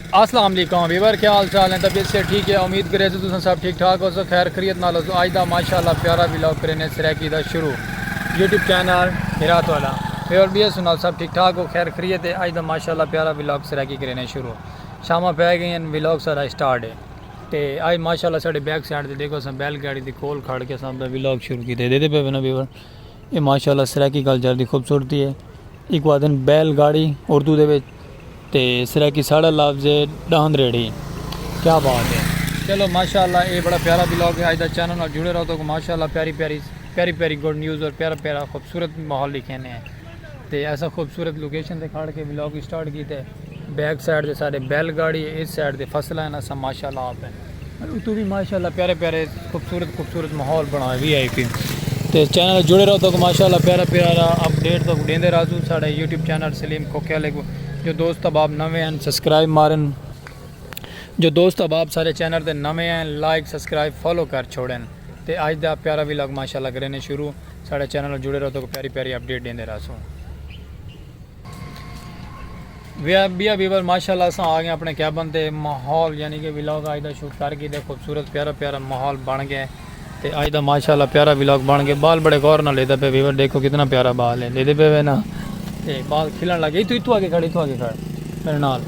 اسلام علیکم ویور کیا حال چال ہیں طبیعت سے ٹھیک ہے امید کرے سے تساں سب ٹھیک ٹھاک ہو سو خیر خریت نال ہو سو آج دا ماشاءاللہ پیارا ویلاگ کرینے سریکی دا شروع یوٹیوب چینل ہرات والا ویور بی ایس نال سب ٹھیک ٹھاک ہو خیر خریت ہے آج دا ماشاءاللہ پیارا ویلاگ سریکی کرینے شروع شامہ پہ گئے ہیں ویلاگ سارا سٹارٹ ہے تے آج ماشاءاللہ ساڑے بیک سائڈ دے دیکھو سن بیل گاڑی دی کول کھڑ کے سن دا ویلاگ شروع کی دے دے دے پہ بنا ویور یہ ماشاءاللہ سریکی کلچر دی خوبصورتی ہے ایک وادن بیل گاڑی اردو دے ویچ تے سرائیکی ساڑھا لفظ ہے ڈاہند ریڑھی کیا بات ہے چلو ماشاءاللہ اے بڑا پیارا بلاگ ہے آج دا چینل نال جڑے رہو تو کو ماشاءاللہ پیاری پیاری پیاری پیاری گڈ نیوز اور پیارا پیارا خوبصورت ماحول لکھینے ہیں تے ایسا خوبصورت لوکیشن تے کھڑ کے بلاگ سٹارٹ کیتے بیک سائیڈ تے سارے بیل گاڑی ہے اس سائیڈ تے فصلہ ہے نا سا ماشاءاللہ آپ ہیں اتو بھی ماشاءاللہ پیارے پیارے خوبصورت خوبصورت ماحول بنا وی آئی پی تے چینل جڑے رہو تو ماشاءاللہ پیارا پیارا اپ ڈیٹ تو دیندے رازو ساڈا یوٹیوب چینل سلیم کھوکھے والے کو جو دوست احباب نوے ہیں سبسکرائب مارن جو دوست احباب سارے چینل تے نوے ہیں لائک سبسکرائب فالو کر چھوڑن تے اج دا پیارا وی لگ ماشاءاللہ کرینے شروع ساڈا چینل جڑے رہو تو پیاری پیاری اپ ڈیٹ دیندے رازو بیا بیور ماشاءاللہ اساں آ گئے اپنے کیبن تے ماحول یعنی کہ ویلاگ آج دا شوٹ کر کے دے خوبصورت پیارا پیارا ماحول بن گئے تے آج دا ماشاءاللہ پیارا ویلاگ بن گئے بال بڑے غور نہ لیدا پہ بیور دیکھو کتنا پیارا بال ہے لیدے پہ وینا تے بال کھلن لگے تو اتو آگے کھڑے تو آگے کھڑے میرے نال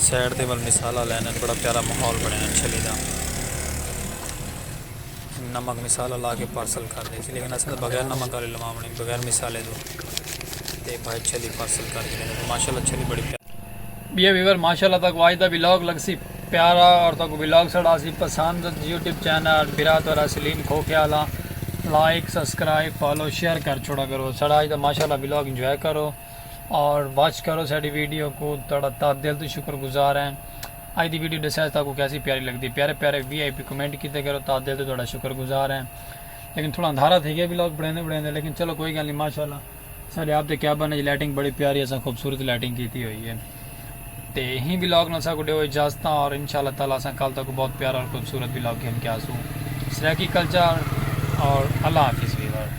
سائیڈ دے ول مثالا لین ہن بڑا پیارا ماحول بنیا ہن چھلی دا نمک مثالا لا کے پارسل کر دے تھی لیکن اسے تو بغیر نمک آلی لوام نہیں بغیر مثالے دو تے بھائی چھلی پارسل کر کے لینے ماشاءاللہ چھلی بڑی پیارا بیا ویور ماشاءاللہ تاکو آج دا ویلاگ لگ سی پیارا اور تاکو ویلاگ سڑا سی پسند یوٹیوب چینل برا تو را سلیم کھو خیالا لائک سبسکرائب فالو شیئر کر چھوڑا کرو سڑا آج دا ماشاءاللہ ویلاگ انجوائے کرو اور واچ کرو ساڈی ویڈیو کو تہاڈا تہہ دل توں شکر گزار ہیں اج دی ویڈیو ڈساج تہاکوں کیسی پیاری لگدی پیارے پیارے وی آئی پی کمنٹ کیتے کرو تہہ دل توں تہاڈا شکر گزار ہیں لیکن تھوڑا اندھارا تھے گیا بھی لوگ بڑھیندے بڑھیندے لیکن چلو کوئی گل نہیں ماشاءاللہ ساڈے آپ دے کیبن وچ لائٹنگ بڑی پیاری اساں خوبصورت لائٹنگ کیتی ہوئی ہے تے ہی بھی لوگ نال ساکو ڈیو اجازت اور انشاءاللہ تعالی اساں کل تک بہت پیارا اور خوبصورت بھی لوگ گھن کے آسوں سرائیکی کلچر اور اللہ حافظ ویور